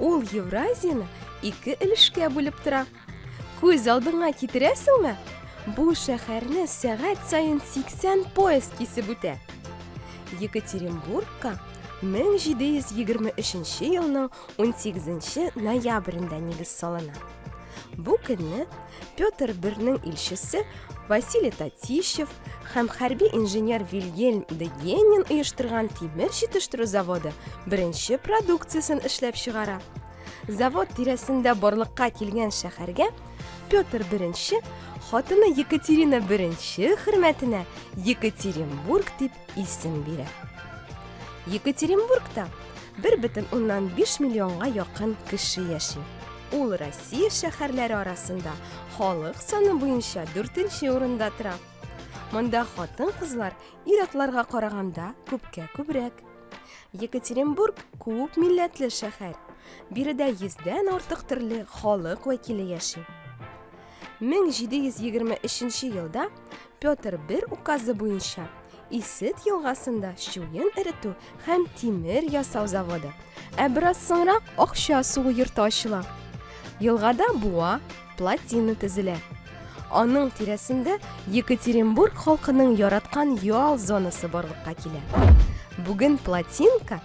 Ул Евразияне ике өлешкә бүлеп тора. Күз алдыңа китерәсеңме? Бу шәһәрне сәгать саен 80 поезд кисеп үтә. Екатеринбургка 1723 елның 18 ноябрендә нигез салына. Бу көнне Петр I илчесе Василий Татищев һәм хәрби инженер Вильгельм де Генин оештырган тимер җитештерү заводы беренче продукциясен эшләп чыгара. Завод тирәсендә барлыкка килгән шәһәргә Петр I хатыны Екатерина I хөрмәтенә Екатеринбург дип исем бирә. Екатеринбургта 1,5 миллионга якын кеше яши. Ул Россия шәһәрләре арасында халык саны буенча 4-нче урында тора. Монда хатын-кызлар ир-атларга караганда күпкә күбрәк. Екатеринбург күп милләтле шәһәр. Биредә 100 дән артык төрле халык вәкиле яши. 1723 нче елда Петр I указы буенча Исет елгасында чуен эретү һәм тимер ясау заводы, ә бераз соңрак акча сугу йорты ачыла. Елгада буа, плотина төзелә. Аның тирәсендә Екатеринбург халкының яраткан ял зонасы барлыкка килә. Бүген плотинка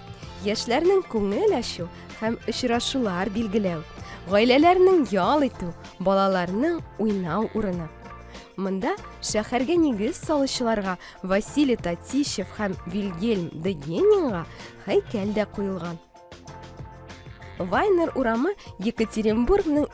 яшьләрнең күңел ачу һәм очрашулар билгеләү, гаиләләрнең ял итү, балаларның уйнау урыны. Монда шәһәргә нигез салучыларга Василий Татищев һәм Вильгельм Дегенинга һәйкәл дә куелган. Вайнер урамы Екатеринбургның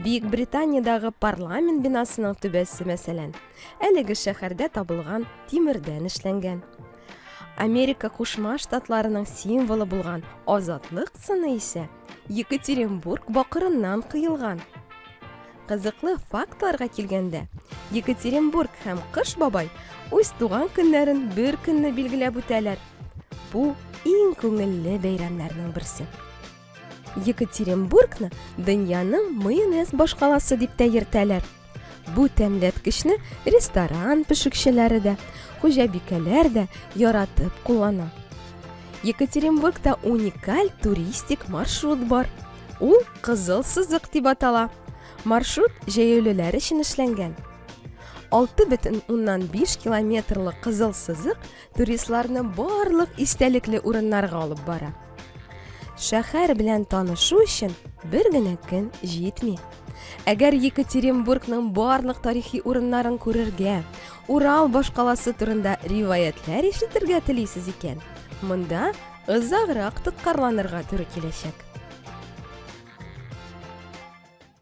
Бөек Британиядәге парламент бинасының түбәсе, мәсәлән, әлеге шәһәрдә табылган тимердән эшләнгән. Америка Кушма Штатларының символы булган азатлык сыны исә Екатеринбург бакырыннан кыелган. Кызыклы фактларга килгәндә, Екатеринбург һәм Кыш бабай үз туган көннәрен бер көнне билгеләп үтәләр. Бу иң күңелле бәйрәмнәрнең берсе. екатеринбургны дөньяның майонез башкаласы дип тә йөртәләр бу тәмләткечне ресторан пешекчеләре дә хуҗабикәләр дә яратып куллана екатеринбургта уникаль туристик маршрут бар ул кызыл сызык дип атала маршрут җәяүлеләр өчен эшләнгән 6,5 километрлы кызыл сызык туристларны барлык истәлекле урыннарга алып бара. Шәһәр белән танышу өчен бер генә көн җитми. Әгәр Екатеринбургның барлык тарихи урыннарын күрергә, Урал башкаласы турында риваятләр ишетергә телисез икән, монда озаграк тоткарланырга туры киләчәк.